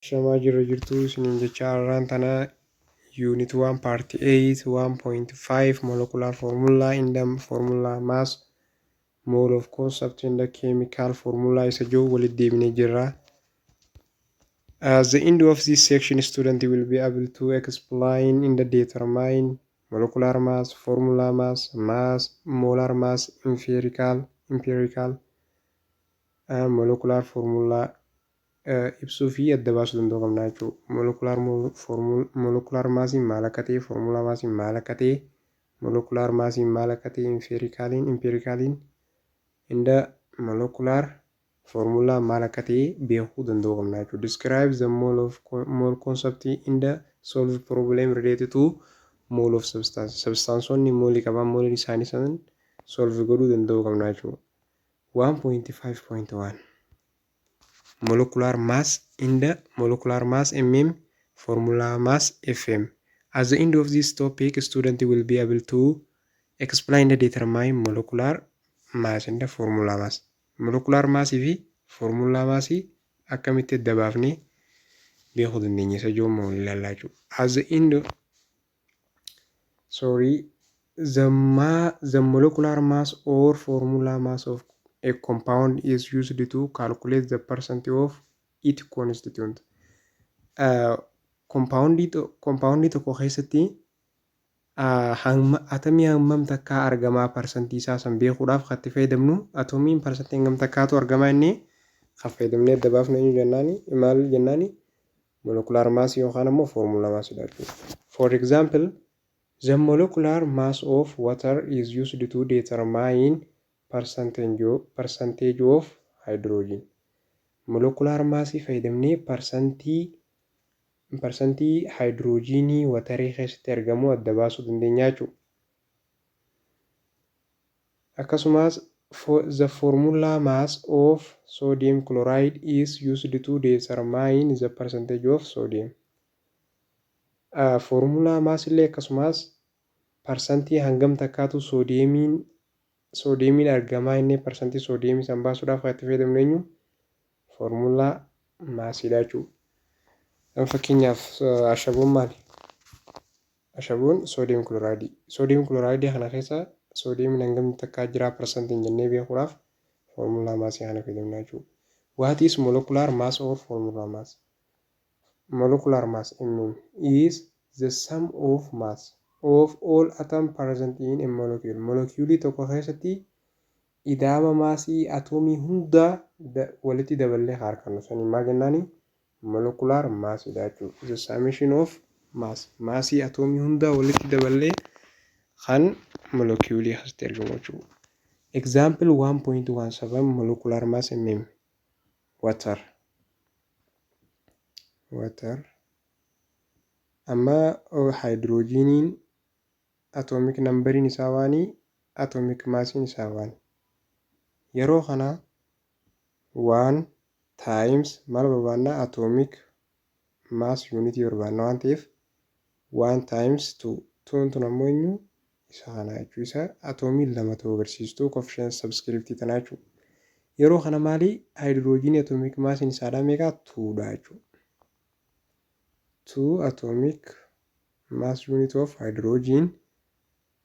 Ashamaa jirra jirtuu isiniin jechaa arraan tanaa unit 1 part 8 1.5 molecular formula in the formula mass mode of concept in the chemical formula isa jiru walitti deebinee jirra. As the end of this section student will be able to explain in the determine molecular mass, formula mass, mass, molar mass, empirical, empirical, uh, molecular formula ibsuu fi adda baasuu danda'uu qabna jechuu molokulaar foormuul molokulaar maasiin maal akka ta'e foormulaa maasiin maal akka ta'e molokulaar maasiin maal akka ta'e infeerikaaliin impeerikaaliin inda molokulaar foormulaa maal akka ta'e beekuu danda'uu qabna jechuu describe the mole of mole concept inda solve problem related to mole of substance substaansoonni moolii qaban mooliin isaanii san solve godhuu danda'uu qabna jechuu 1.5.1 molecular mass in the molecular mass mm formula mass fm at the end of this topic student will be able to explain the determine molecular mass in the formula mass molecular mass fi formula mass akkamitti adda baafnee beekuu dandeenya isa joommoo ilaalaa jechuudha as the end of sorry the ma the molecular mass or formula mass of a compound is used to calculate the percent of it constituent kompaawundii kompaawundii tokko keessatti atamii hammam takkaa argamaa parsantii isaa san beekuudhaaf kan itti fayyadamnu atomiin parsantii hangam takkaatu argamaa inni kan fayyadamnee adda baafnu eenyu jennaani maal jennaani molecular mass yookaan ammoo formula mass dha jechuudha. For example, the molecular mass of water is used to determine percentage percentage of hydrogen. Molecular mass fayyadamnee parsantii parsantii haayidiroojiinii watarii keessatti argamu adda baasuu dandeenya jechuudha. Akkasumas, the formula mass of sodium chloride is used to determine the percentage of sodium. a Foormulaa mass illee akkasumas parsantii hangam takkaatu soodiyeemiin soodiyeemiin argamaa innee parsantii soodiyeemii san baasuudhaaf kan itti fayyadamnu eenyu foormulaa maasiidha jechuudha. Fakkeenyaaf ashaboon maali? Ashaboon soodiyem kilooraayidii. Soodiyem kilooraayidii kana keessa soodiyemiin hangamni takkaa jiraa parsantiin jennee beekuudhaaf foormulaa maasii kana fayyadamna jechuudha. What is molecular mass or formula mass? Molecular mass, mm, is the sum of mass of all atom present in a molecule. Molekiyuulii tokko keessatti ida'ama maasii atoomii hundaa walitti daballee ka argannu saniin maal jennaani? Molecular mass ida'achuu is a summation of mass maasii atoomii hundaa walitti daballee kan molekiyuulii keessatti argamu jechuu example 1.17 molecular mass mm water water amma haayidiroojiiniin atoomik nambariin isaa waanii atoomik maasiin isaa waanii yeroo kanaa 1 times maal barbaanna atomic mass unit barbaanna waan ta'eef 1 times 2 tuun tun ammoo eenyu isa kana jechuu isa atoomiin lama ta'uu agarsiistuu coefficient subscript tanaa jechuu yeroo kana maali haayidiroojiinii atomic maasiin isaadhaa meeqaa 2 dha jechuu 2 atomic mass unit of hydrogen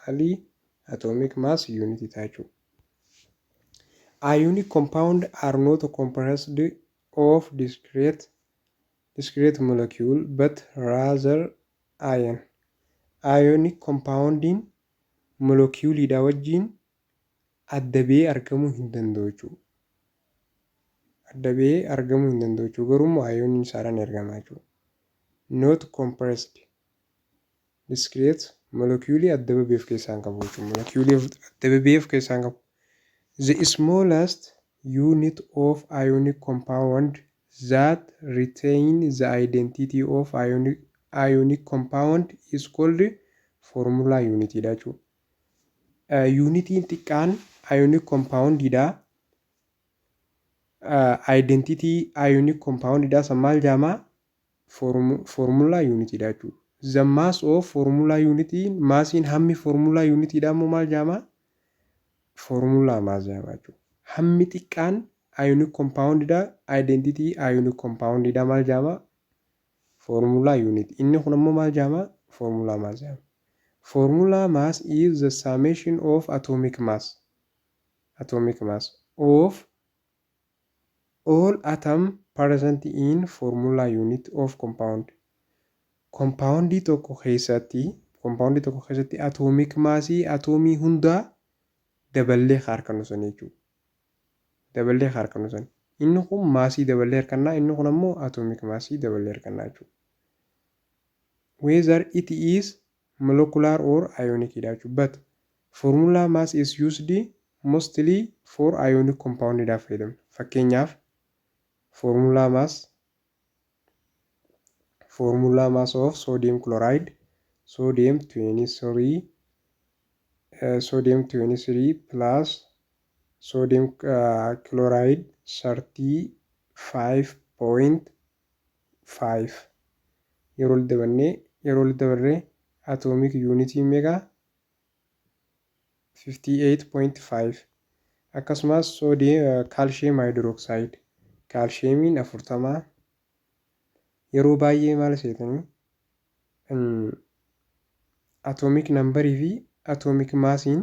Mali atomic mass unit itaa jechuu. Ionic compound are not composed of discrete discrete molecule but rather ion. Ionic compound'n molokiyuuliidhaa wajjiin adda ba'ee argamuu hin danda'u jechuu. Adda ba'ee argamuu hin danda'u jechuu garuu immoo ioniin isaadhaan ergama jechuu. Not compressed Discrete molokiyuulii adda babee of keessaa hin qabu jechuudha. Molokiyuulii adda babee of keessaa hin qabu. The smallest unit of ionic compound that retain the identity of ionic, ionic compound is called formula unit dha jechuudha. Yuunitiin xiqqaan ionic compound dha. Identity ionic compound dha. San maal jaamaa? foormulaa yuunitiidha jechuudha. The mass of foormulaa yuunitiin maasiin hammi foormulaa yuunitiidha immoo maal jedhama? Foormulaa maas jedhama jechuudha. Hammi xiqqaan ayoonik kompaawundidha. Aayidentitii ayoonik kompaawundidha maal jedhama? Foormulaa yuuniti. Inni kun immoo maal jedhama? Foormulaa maas jedhama. Foormulaa maas is the summation of atomic mass. Atomic mass of All atom present in formula unit of compound Kompaawundii tokko keessatti kompaawundii tokko keessatti atoomik maasii atoomii hundaa daballee harkannu sanii jechuudha. Daballee harkannu sanii. Inni kun maasii daballee harkannaa inni kun ammoo atoomik maasii daballee harkannaa jechuudha. Whether it is molecular or ionic dha jechuudha. But formula mass is used mostly for ionic compound dhaaf fayyadamna. Fakkeenyaaf formula mass formula mass of sodium chloride sodium 23 uh, sodium 23 plus sodium uh, chloride 35.5 5. Yeroo walitti dabannee Yeroo walitti dabarre Atomic Unity Mega 58.5 Akkasumas Sodium Calcium Hydroxide Kaalshiyeemiin 40 Yeroo baay'ee maal seetanii Atomic Number fi Atomic Massiin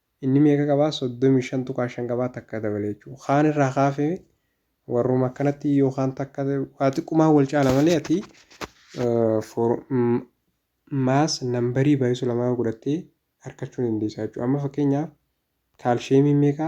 Inni meeqa qaba? 35.5 qaba takka dabale jechuudha. Kaan irraa kaafe warruma akkanatti yoo kaan takka waa xiqqumaan wal caala malee ati for maas nambarii baay'isu lamaa godhattee harkachuu dandeessaa jechuudha. Amma fakkeenyaaf kaalsheemiin meeqa?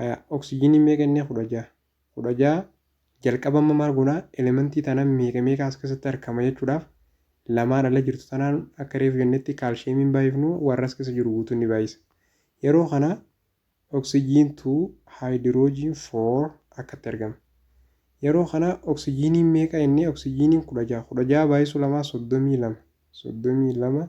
Haya, oksijinii meeqa inni kudha ja'a. Kudha ja'a jalqaba amma maal goona elementii tana meeqa meeqa as keessatti argama jechuudhaaf lamaan ala jirtu tanaan akka reefu jennetti kaalsheemiin baay'ifnu warra as keessa jiru guutuun ni baay'isa. Yeroo kana oksijiin 2 haayidiroojiin 4 akkatti argama. Yeroo kana oksijiiniin meeqa inni oksijiiniin kudha ja'a. Kudha ja'a baay'isuu lamaa soddomii lama. Soddomii lama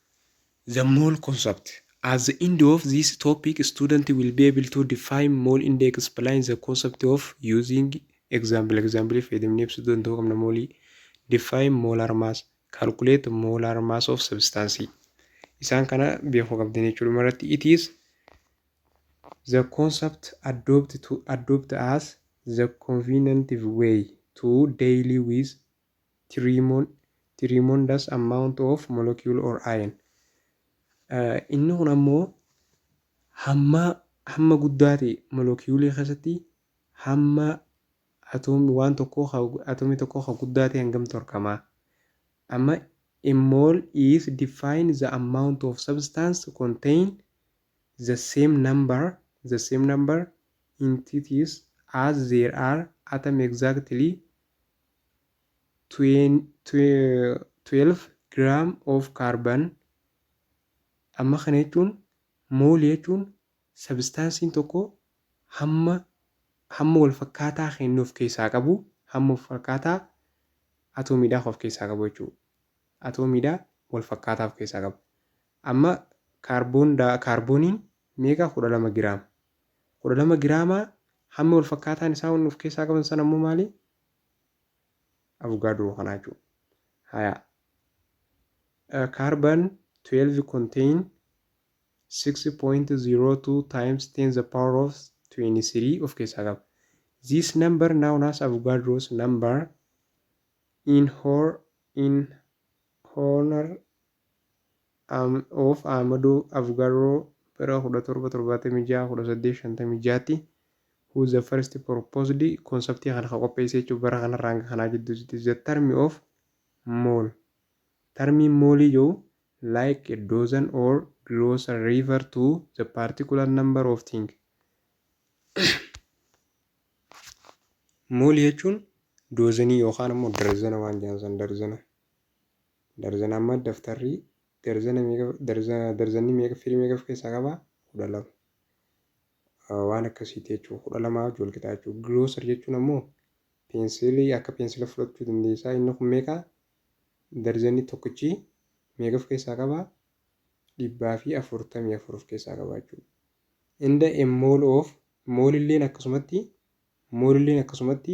The mole concept. At the end of this topic, student will be able to define mole and explain the concept of using example. Example fayyadamnee ibsuu danda'uu qabna moolii. Define molar mass. Calculate molar mass of substance. Isaan kana beekuu qabdan jechuudha. Dhuma irratti it is the concept adopt to adopt as the convenient way to daily with Tremondous amount of molecule or ion Inni kun ammoo hamma hamma guddaa ta'e molokiyuulii keessatti hamma atoomii waan tokkoo atoomii tokkoo kan guddaa ta'e hangam torkama amma a mole is define the amount of substance contain the same number the same number entities as there are atom exactly 12 gram of carbon Amma kana jechuun moolii jechuun sabistaansiin tokko hamma hamma wal fakkaataa kennu of keessaa qabu hamma of fakkaataa atoomiidhaa of keessaa qabu jechuudha. Atoomiidhaa wal fakkaataa of keessaa qabu. Amma kaarboon kaarbooniin meeqa 12 giraama. 12 giraamaa hammi wal fakkaataan isaa wanni of keessaa qaban sana immoo maali? avugaadoo kanaa jechuudha. Haya. Uh, carbon 12 contain 6.02 times 10 the power of 23 of keessaa qaba. This number known as Avogadro's number in, hor in honor of Ahmadoo Avgarroo bara 17 76 18 56 tti who the first proposed konseptii kana ka qopheesse jechuun bara kanarraa hanga kanaa jidduutti the term of mall tarmiin moolii jiru like a dozen or glossary refer to the particular number of things moolii jechuun doozanii yookaan ammoo darzana waan jedhan san darzana Darzana amma daftarri darzana meeqa darzana darzanni meeqa firii meeqa of keessaa qaba? kudha lama. Waan akkasiiti jechuudha. kudha lamaa wajjin wal qixaa jechuudha. Girooser jechuun ammoo peensiilii akka peensila fudhachuu dandeessaa. Inni kun meeqa? Darzanni tokkichi meeqa of keessaa qaba? dhibbaa fi afurtamii afur of keessaa qaba jechuudha. Inda a mall of moolilleen akkasumatti moolilleen akkasumatti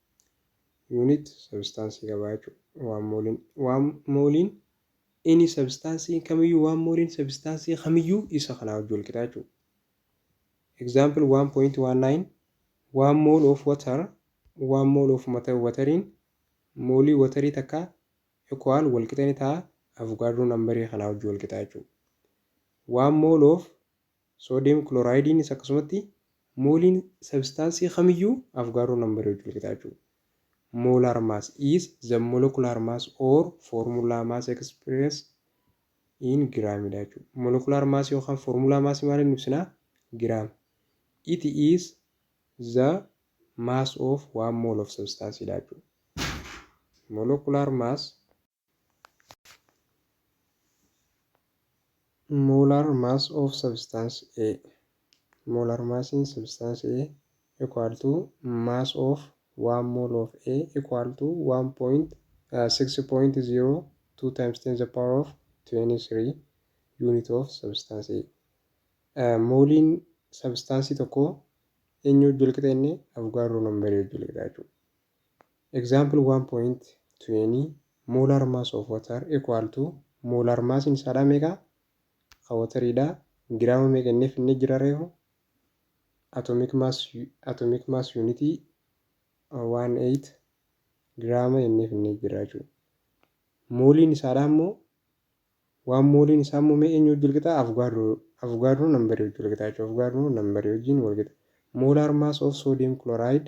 Unit sabistaansii qabaa jechuudha. Waan mooliin waan mooliin ini sabistaansii kamiyyuu waan mooliin sabistaansii kamiyyuu isa kanaa wajji wal qixaa jechuudha. Example 1.19 One mole of water One mole of matter watariin moolii watarii takka equal wal qixa ni ta'a avugaadroo nambarii kanaa wajji wal qixaa jechuudha. One mole of Soodiyem kiloraayidiinis akkasumatti mooliin sabistaansii kamiyyuu Afgaaroo nambarii wajjin walqixa jechuudha. Molar mass is the molecular mass or formula mass expressed in gram dha jechuudha. Molecular mass yookaan formula mass maaliin ibsina? Gram. It is the mass of one mole of substance dha jechuudha. Molecular mass Molar mass of substance A Molar massiin substance A equal to mass of 1 mole of A equal to 1.6.02 times 10 the power of 23 unit of substance A. Mooliin substaansii tokko eenyu wajjin walqixa inni Avogadro nambarii wajjin walqixa jechuudha. Example 1.20 Molar mass of water equal to Molar mass in isaadhaa meeqa? Ka water dha. Giraama meeqa inni finne jira reefu? Atomic mass atomic mass unit 18 giraama inni finne jira jechuu. Mooliin isaadhaa immoo waan mooliin isaa immoo mee eenyu wajjin walqixa? Avugaadroo avugaadroo nambarii wajjin walqixa jechuudha. Avugaadroo nambarii wajjin walqixa. Molar mass of sodium chloride